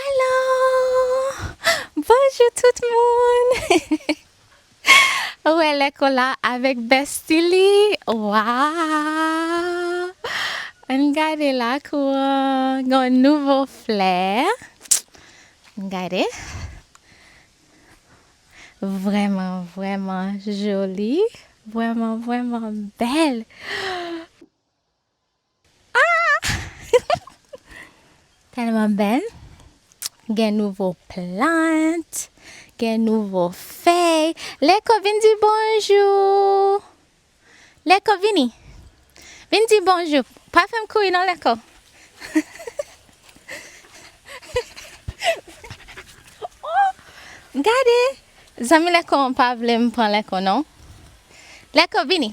Alo! Bonjou tout moun! Ou e lè kola avèk bestie li waww! Ann gade lakou an gen yon nouvo flè ann gade vrèman vrèman joli vrèman vrèman bèl. Tèlman bèl gen nouvo plant gen nouvo fèy leko vin di bonjou leko vini vin di bonjou pa fèm kouri non leko gade zanmi leko pa vlem pran leko non leko vini.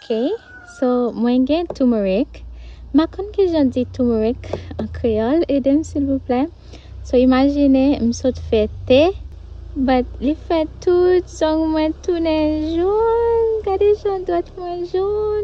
Ok so mwen gen toumourik mpa konn kijan di toumourik an kreyòl edem silvouplè so imajine m sot fè te but li fè tout zong mwen tounen jòn gade jan dwèt mwen jòn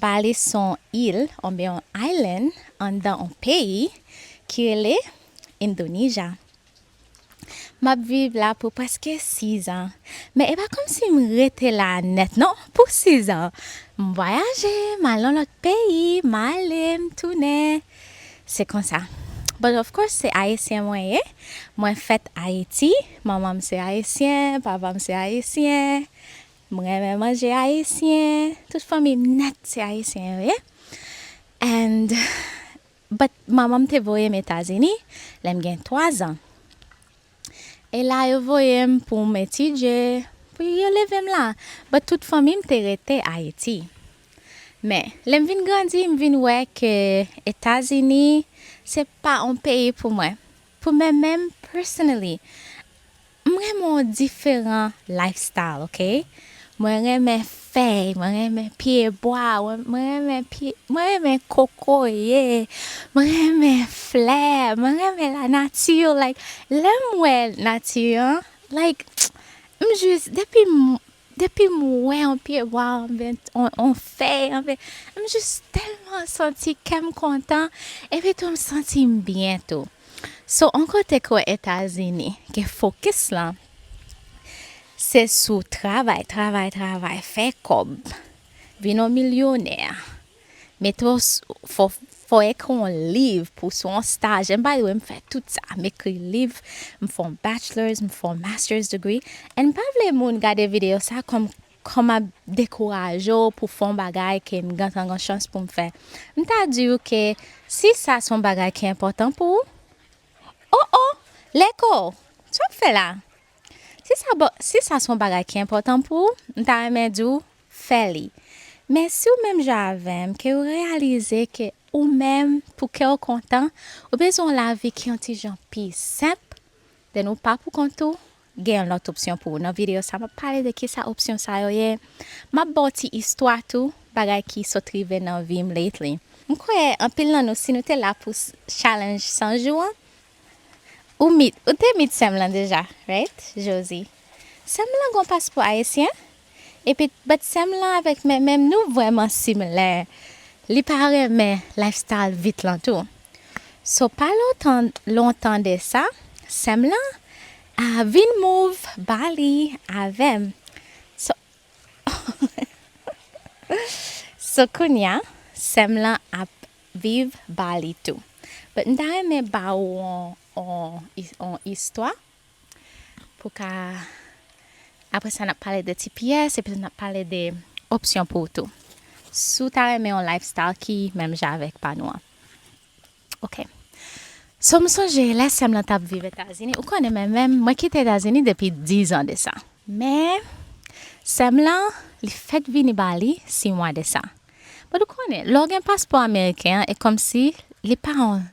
Bali s on il oubyen on island anndan on peyi ki rele Indonija. M ap viv la pou prèske sizan. Men e pa kòmsi m rete la nèt non pou sizan. M vwayaje, m al nan lòt peyi, m ale, m tounen. Se konsa. But of course se Ayisyen mwen ye. Mwen fèt Ayiti, manman m se Ayisyen, papa m se Ayisyen. M renmen manje ayisyen, tout fanmi m nèt se ayisyen yo ye and but manman m te voye m Etazini lè m gen 3 zan e la yo voye m pou m etidye pou yo leve m la but tout fanmi m te rete Ayiti men lè m vin grandi m vin wè ke Etazini se pa on peyi pou mwen Pou mwen menm personally m renmen yon diferan lifestyle ok mwen renmen fèy mwen renmen pye bwa mwen renmen pye mwen renmen kokoye mwen renmen flè mwen renmen la nati like lèm wè nati an like m jis depi m Depim wè on pyebwa anben on fèy anben m jis tèlman santi kèm kontan epi tou m santim byen tou so on kote ke etazini ke fokis lan se sou travay travay travay fè kòb vin on milyonè. Metro fò ekri yon liv pou sou yon staj and by the way m fè tout sa m ekri liv m fè yon bachelors m fè yon masters degree and m pa vle moun gade video sa kòm kòm map dekouraje w pou fè yon bagay ke m gentan gen chans pou m fè m ta di ou ke si sa se yon bagay ki enpòtan pou ou oh oh leko sa wap fè la si sa bon si sa se yon bagay ki enpòtan pou ou m ta renmen di w fè li men si ou menm jan avèm ke ou reyalize ke ou menm pou kèw kontan ou bezwen yon lavi ki yon ti jan pi senp then ou pa pou kont ou gen yon lòt opsyon pou ou nan video sa map pale de kisa opsyon sa yo ye map baw ti istwa tou bagay ki sot rive nan vim lately mkwè anpil nan nou si nou te la pou challenge 100 jou an Ou meet, ou te meet sèm lan deja, right? Josi, Sèm lan gon paspò ayisyen? Epi, but sèm lan avèk Mèmèm nou vrèman similè. Li pa renmen lifestyle vit lan tou. So pa lontan lontan de sa, sèm lan a vin move Bali avèm. So, so kounya sèm lan ap Viv Bali tou. But m ta renmen ba ou on istwa pou ka apre sa nap pale de ti pyès epi tou nap pale de opsyon pou ou tou. Si w ta renmen on lifestyle ki menm jan avèk pa nou an. Ok. So m sonje lè sè m lan tap viv Etazini, ou konnen mwen menm mwen kite Etazini depi 10 an de sa. Men sè m lan li fèk vini Bali 6 mwa de sa. But ou konnen lè w gen paspò ameriken an e kòmsi li pa yon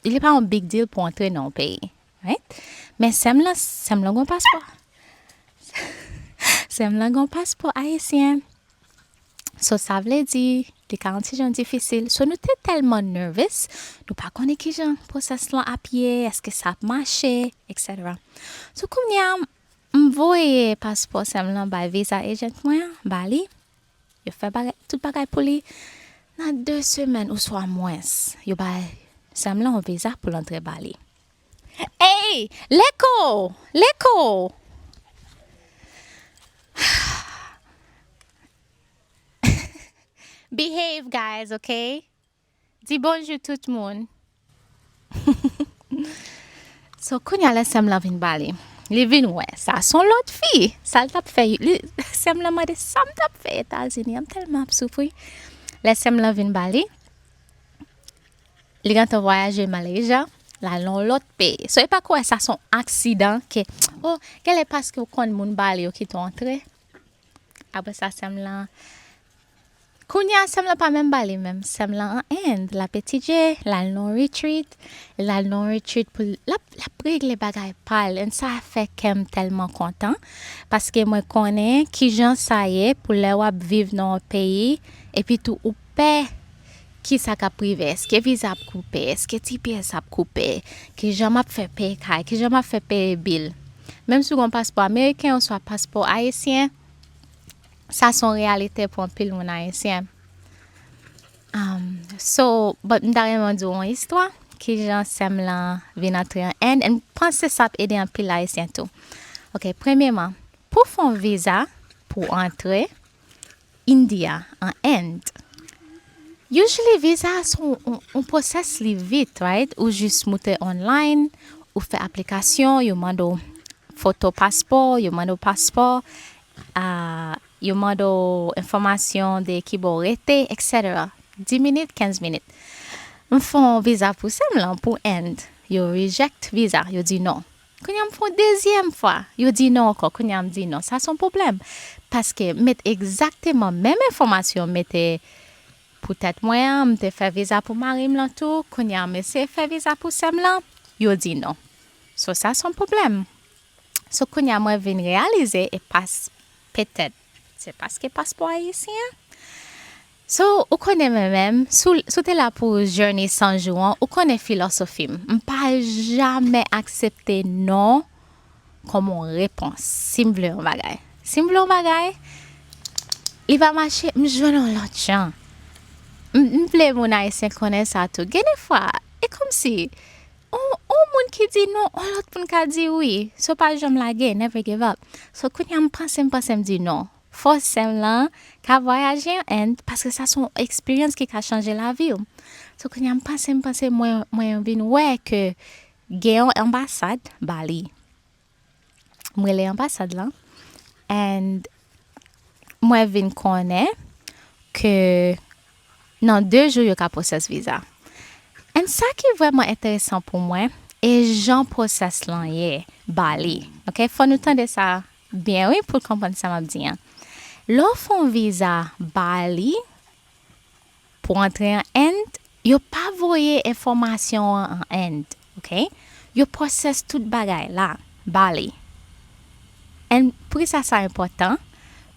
li pa yon big deal pou w antre nan yon peyi right men sè m lan sè m lan gen yon paspò sè m lan gen yon paspò ayisyen so sa vle di li ka yon ti jan difisil so nou te tèlman nervous nou pa konnen ki jan pwosès lan ap ye èske sa ap mache etc so kounye a m voye paspò sè m lan bay viza agent mwen an ba li Yo fè bagay, tout bagay pou li. Nan 2 semèn ouswa mwens, yo bay sèm lan yon viza pou l antre Bali. Ey! Leko! Leko! Behave guys, ok? Di bonjou tout moun. So kounya lè sèm lan vin pale Li vin wè sa son lòt fi Sal tap fè Sèm lan mande sam tap fè etazini an mtelman ap soufri Lè sèm lan vin pale Li gentan vwayaje malaysia Lal nan yon lòt peyi So epa kwè sa son aksidan ke Oh gèlè paske ou konn moun pale yo kite w antre Apre sa sèm lan Kounya sèm lan pa menm bale menm Sèm lan an End Lap etidye Lal nan yon retreat Lal nan yon retreat pou l Lap lap regle bagay pa l And sa fè kè m tèlman kontan Paske mwen konnen kijan sa ye Pou lè wap viv nan yon peyi Epitou ou pè Kisa kap rive eske viza ap koupe eske tps ap koupe kijan map fè peye kay kijan map fè peye bil menm si ou gen yon paspò ameriken oswa paspò ayisyen sa son reyalite pou anpil moun ayisyen so but m ta renmen di ou yon istwa kijan sèm lan vin antre an end and m panse sa ap ede anpil ayisyen tou ok premyeman pou fon viza pou antre India, an End. Usually visa a son on process li vit right ou jus moute online ou fè aplikasyon yo mande w foto paspò yo mande w paspò ahh yo mande w enfòmasyon de kibò w rete etc di minit kenz minit m fon visa pou sèm lan pou End yo reject visa yo di non. Kounya m fè yon dezyèm fwa, yo di non ankò, kounya m di non. Sa s on pwoblèm. Paske m met egzakteman menm enfòmasyon m mete pou tèt mwen an, m te fè viza pou mari m lan tou, kounya m eseye fè viza pou sè m lan, yo di non. So sa s on pwoblèm. So kounya mwen vin reyalize e pas petèt. Se paske paspò ayisyen an. So ou konnen mwen menm, si w te la pou journey 100 jou an, ou konnen filosofi m. M pa jamè aksepte non kòm yon repons. Si m vle yon bagay. Si m vle yon bagay, li pa mache, m jwenn yon lòt jan. M vle moun ayisyen konnen sa tou. Gen de fwa, e kòmsi On moun ki di non, on lòt moun ka di wi. So pa janm lage, never give up. So kounye a m panse m panse m di non. Fò sè m lan ka vwayaje an End paske sa son eksperyans ki ka chanje lavi w. So kounye a m panse m panse mwen vin wè ke gen yon anbasad Bali. m rele anbasad lan and mwen vin konnen ke nan 2 jou yo ka pwosès viza and sa ki vrèman enteresan pou mwen e jan pwosès lan ye Bali ok fò nou tande sa byen wi pou konprann sa map di an lè w fon viza Bali Pou antre an End, yo pa voye enfòmasyon an an End, ok. Yo process tout bagay la, Bali. And poukisa sa enpòtan?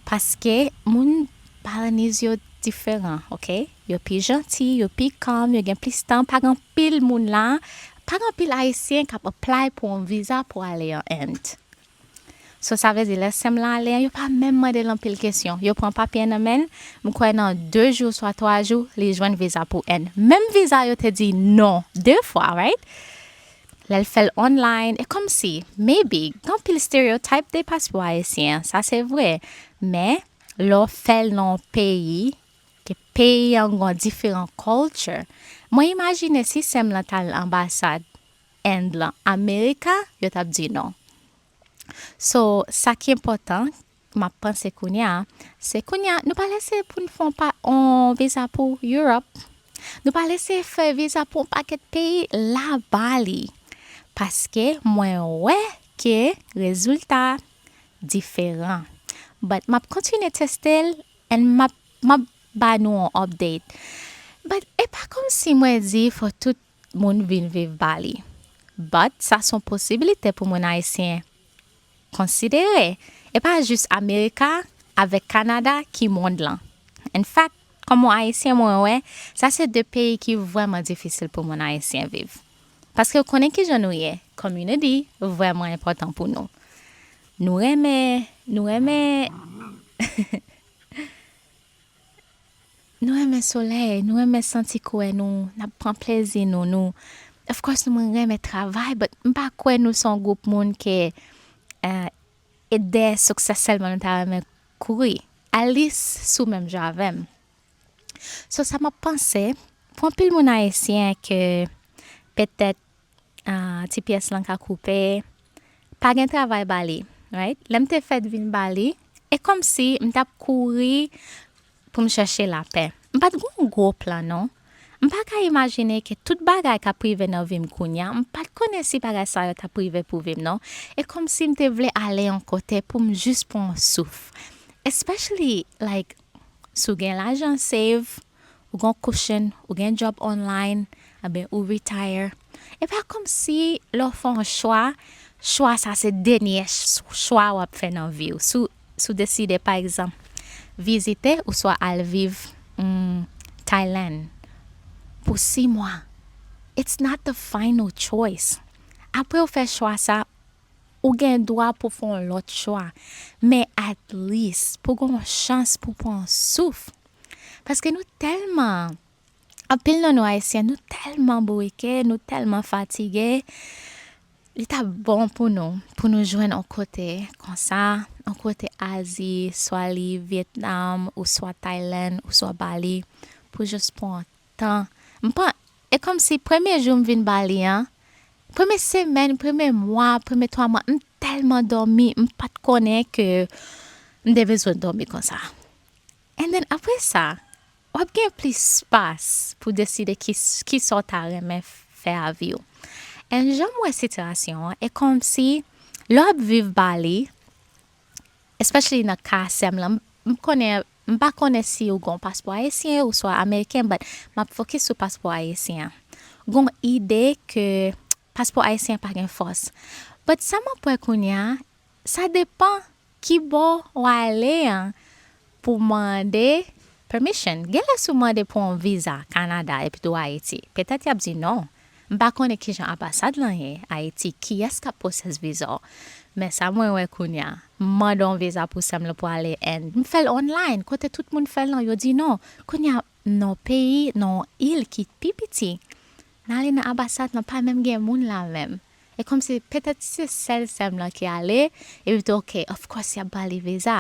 Paske moun Balinese yo diferan, ok. Yo pi janti, yo pi calm, yo gen plis tan, pa gen anpil moun la, pa gen anpil Ayisyen k ap apply pou yon viza pou ale an End. So sa vle di lè sèm lan ale an yo pa menm mandel anpil kesyon yo pran papye an nan menl m kwè nan 2 jou swa 3 jou li jwenn viza pou End menm viza yo te di non 2 fwa right lèl fèl online e kòmsi maybe gen anpil stereotype de paspò ayisyen an sa se vre men lè w fèl nan yon peyi ke peyi an gon diferan culture mwen imajine si sèm lan tal anbasad End lan America yo tap di non. So sa ki enpòtan map panse kounya se kounya nou pral eseye poun fon pa on viza pou Europe nou pral eseye fè viza pou on pakèt peyi la Bali paske mwen wè ke rezilta diferan but map kontinye testel and map map ba nou on update but epa kòmsi mwen di fò tout moun vin viv ba li. But sa son posibilite pou moun ayisyen konsidere. E pa jis America avek Canada ki mond lan. In fact, kom on ayisyen mwen wè sa se 2 peyi ki vreman difisil pou moun ayisyen viv. Paske ou konnen kijan nou ye, community vreman enpotan pou nou. Nou renmen, nou renmen. Nou renmen solèy, nou renmen santi kouè nou, nap pran plèzi nou, nou of course nou renmen travay but m pa kwè nou se yon gwoup moun ke et dèyè succès sèlman nou ta renmen kouri. Alice sou menm jan avèm. So sa map panse pou anpil moun ayisyen ke petèt ti pyès lan ka koupe, pa gen travay ba li, right? Lè m te fèt vin ba li, e kòmsi m t ap kouri pou m chèche lapè. M pa t gen yon gwo plan non. M pa ka imajine ke tout bagay k ap rive nan vi m kounya, m pa t konnen si bagay sa yo t ap rive pou vi m non. E kòmsi m te vle ale yon kote pou m jis pran yon souf. Especially like, si w gen lajan save. ou gen yon cushion, ou gen job online, anben ou retire. E pa kòmsi lè w fè yon chwa, chwa sa se denyè chwa w ap fè nan vi w. Si w deside pa egzanp vizite oswa al viv Thailand pou 6 mwa, it's not the final choice. Apre ou fè chwa sa, ou gen dwa pou w fè yon lòt chwa. Men at least pou w gen yon chans pou w pran yon souf. Paske nou tèlman, anpil nan nou Ayisyen, nou tèlman bourike, nou tèlman fatige, li t ap bon pou nou, pou nou jwenn on kote konsa, on kote Azi, swa li Vyetnam, oswa Taylann, oswa Bali, pou jis pran on tan. M pa, e kòmsi premye jou m vin Bali an, premye semèn, premye mwa, premye twa mwa, m tèlman dòmi, m pa t konnen ke m te bezwen dòmi konsa. And then apre sa, wap gen plis spas pou deside kisa w ta renmen fè a vi w. And jan m wè sitirasyon an, e kòmsi lè w ap viv Bali, especially nan ka sè m lan, m konnen, m pa konnen si w gen yon paspò ayisyen oswa ameriken but m ap fokis sou paspò ayisyen an. Gon ide ke. Paspò ayisyen an pa gen fòs. But sa map wè kounya sa depan kibò w ale an pou w mande permission. Genlè si w mande pou yon viza Canada epi tou Ayiti, petèt yap di non. M pa konnen kijan anbasad lan ye Ayiti, kiyès kap pwosès viza w. Men sa mwen wè kounya, m mande yon viza pou sèm lan pou ale End, m fèl online kote tout moun fèl lan, yo di non. Kounya nan yon peyi, nan yon il ki pi piti, Nale nan abasad lan pa menm gen moun la menm e kòmsi petèt si se sèl sèm lan ki ale epi tou ok of course yap bali viza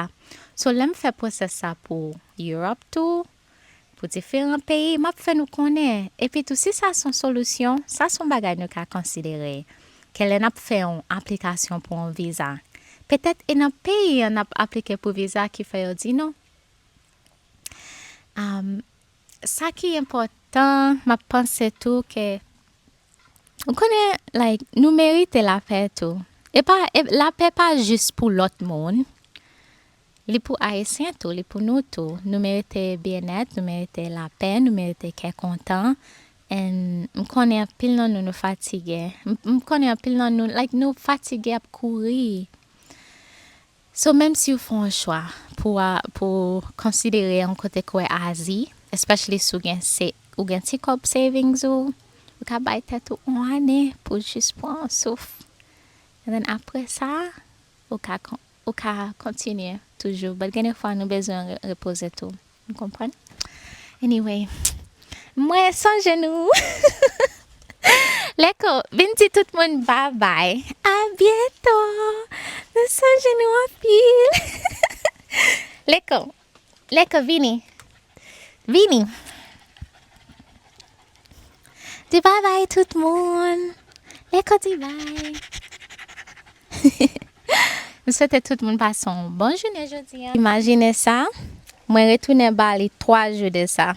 so lèm fè process sa pou Europe tou pou diferan peyi map fè nou konnen epi tou si sa son solisyon sa son bagay nou ka konsidere ke lè nap fè yon aplikasyon pou yon viza petèt e nan peyi an nap aplike pou viza ki fè yo di nou. Sa ki enpòtan map panse tou ke ou konnen like nou merite lapè tou epa lapè pa jis pou lòt moun li pou ayisyen tou li pou nou tou nou merite byennèt nou merite lapè nou merite kè kontan and m konnen anpil nan nou nou fatige m konnen anpil nan nou like nou fatige ap kouri. So menm siw fon on chwa pou a pou konsidere on kote kwe azi especially si w gen se ou gen ti kob savings ou ou ka bay tet ou on ane pou jis pran on souf and then apre sa ou ka ou ka kontinye toujou but gen de fwa nou bezwen repoze tou. M konprann. Anyway. Mwen sonje nou. Leko, vin di tout moun babay. A byento. Mwen sonje nou anpil. Leko. Leko vini. Vini. Di bye bye tout moun. Lè kò di bye. M swete tout moun pase yon bon jounen jodi an. Imajine sa, mwen retounen Bali 3 jou de sa.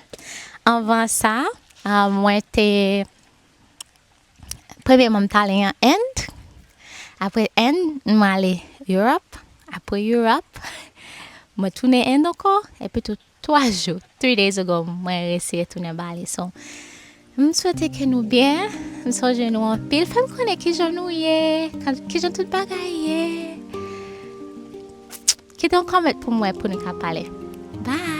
Anvan sa, mwen te, premyeman m t ale an End, apre End m ale Europe, apre Europe mwen tounen End ankò epitou. 3 jou, three days ago mwen resi retounen ba li so m swete ke nou byen m sonje nou anpil fem konnen kijan nou ye kijan tout bagay ye kite yon comment pou mwen pou nou ka pale bye.